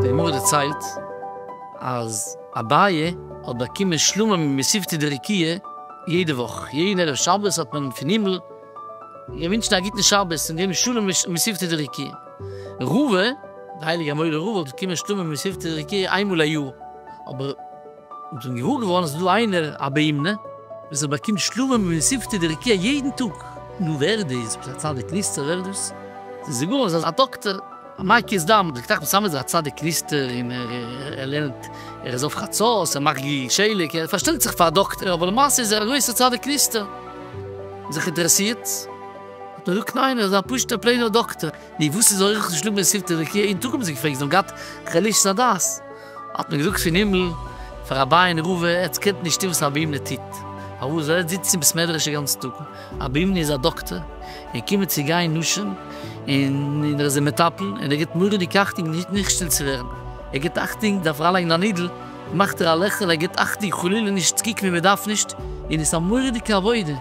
די גמרא דערציילט אז אביי האט באקומען שלמה ממספתא דרקיע יעדע וואך, יעדן ערב שבת האט מען פון הימל געווינטשן א גוטן שבת און געגעבן שלום ממספתא דרקיע. רבה, די הייליגע מורה רבה האט באקומען שלמה ממספתא דרקיע איינמאל א יאר, אבער. אונז האבן געוואר געווארן אז ס'איז דא איינער א בהמ ד וואס ער באקומט שלובים ומסיבתא דרקיע יעדן טאג. נו ווער דאס? ביסט א צדיק נסתר? ווער דאס? זיי זאגן אונז אז א דאקטער א מקיז דם דאקטאר אחמד סאמעט איז א צדיק נסתר און ער לערנט ער איז אויף חצות ער מאכט גליל שלג ער פארשטעלט זיך פאר א דאקטער אבער למעשה איז ער א גרויסער צדיק נסתר. זיך אינטערעסירט האט מען געזאגט ניין ער איז א פשוטער פלעינער דאקטער. נו וואס איז אורחות שלובים ומסיבתא דרקיע יעדן טאג האבן זיי געפרעגט זיי האבן געהאט חלישות הדעת. האט מען געזאגט פון הימל פאר רבי'ן ר' ער עטס קענט נישט טון וואס רבי ימנע טוט, פארוואס זאל עטס זיצן אין בית מדרש די גאנצע טאג, רבי ימנע איז א דאקטער און קומען צו גיין נאשן און ער איז די מטפל און ער גיבט מוראדיג אכטונג נישט נישט שטיל צו ווערן, ער גיבט אכטונג דארף אריינלייגן א נידל מאכט ער א לעכל ער גיבט אכטונג חלילה נישט צו קוקן ווי מען דארף נישט און עס איז א מוראדיגע עבודה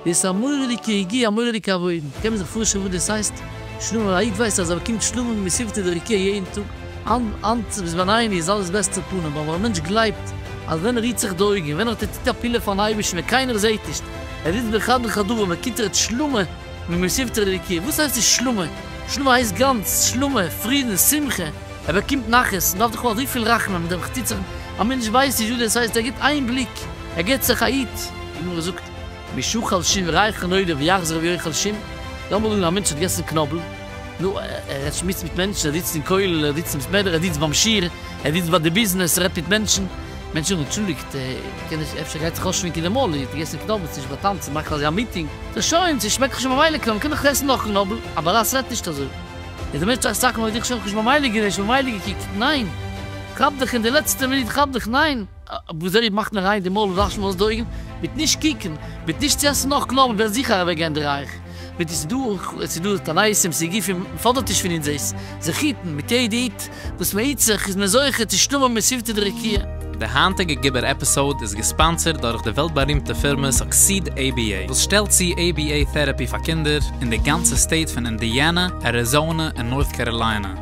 דאס א מורא'דיגע יגיעה א מורא'דיגע עבודה, קען מען זיך פארשטעלן וואס דאס הייסט שלמה, א איד ווייסט אז ער באקומט שלמה מספתא דרקיע יעדן טאג, האנט ביז ביין עיני איז אלעס בעסטע פנים, אבער א מענטש גלייבט אז ווען ער רוהט זיך די אויגן, ווען ער טוט א פעולה פארן אייבערשטן ווען קיינער זעהט נישט, ער זיצט בחדר חדרים באקומט ער שלמה ממספתא דרקיע, וואס הייסט דאס שלמה, שלמה הייסט גאנץ, שלמה, פרידן, שמחה, ער באקומט נחת, מען דארף דאך האבן אזויפיל רחמים מיט דעם חצוצר'ן, א מענטש ווייסט נישט וואס דאס הייסט, ער גיבט איין בליק, ער געט זיך א היט, די גמרא זאגט, משא כ על שום רייכן עולם יחזור רבי יוחאל שום, לאמיר זאגן א מענטש האט געגעסן קנאבל, נו, ער האט שמועסט מיט מענטשן, ער זיצט אין כולל, ער זיצט אין בית מדרש, ער זיצט ביים שיעור, ער זיצט ביי די ביזנעס, ער רעדט מיט מענטשן, מענטשן זאגן אנטשולדיגט, קען איך, אפשר גייט זיך אויסשמינקען אין מאל, איר האט געגעסן קנאבל, ס'נישט ביי טאנצן, מאכט אזוי א מיטינג, ס'איז שוין, ס'שמעקט דאך שוין ממילא קנאבל, מ'קען דאך עסן נאך קנאבל, א באראס רעדט נישט אזוי, איז דער מענטש טראכט סאקמאר האט דיך שוין ממילא גערעשט, ממילא געקוקט, ניין, כאפ דיך אין די לעצטע מינוט, כאפ דיך, ניין. וואו זיי מאכן אריין די מויל און וואשן אויס די אויגן, מיט נישט קוקן, מיט נישט צו עסן נאך קלאר, וועלן זיכער אוועק גיין די רייך, מיט עס איז דא תנאי סים סיגופים, מען פאדערט נישט פון אונז עס זיך היטן, מיט יעדע היט וואס מען היט זיך איז מען זוכה צו שטומען בסביבתא דרקיע. די היינטיגע גובר עפיסאוד איז געספאנסערד דורך די וועלט בארימטע פירמע סוקסיד עי בי עי וואס שטעלט צו עי בי עי טעראפי פאר קינדער אין די גאנצע סטעיט פון אינדיאנא, אריזאנע און נארט קאראליינע.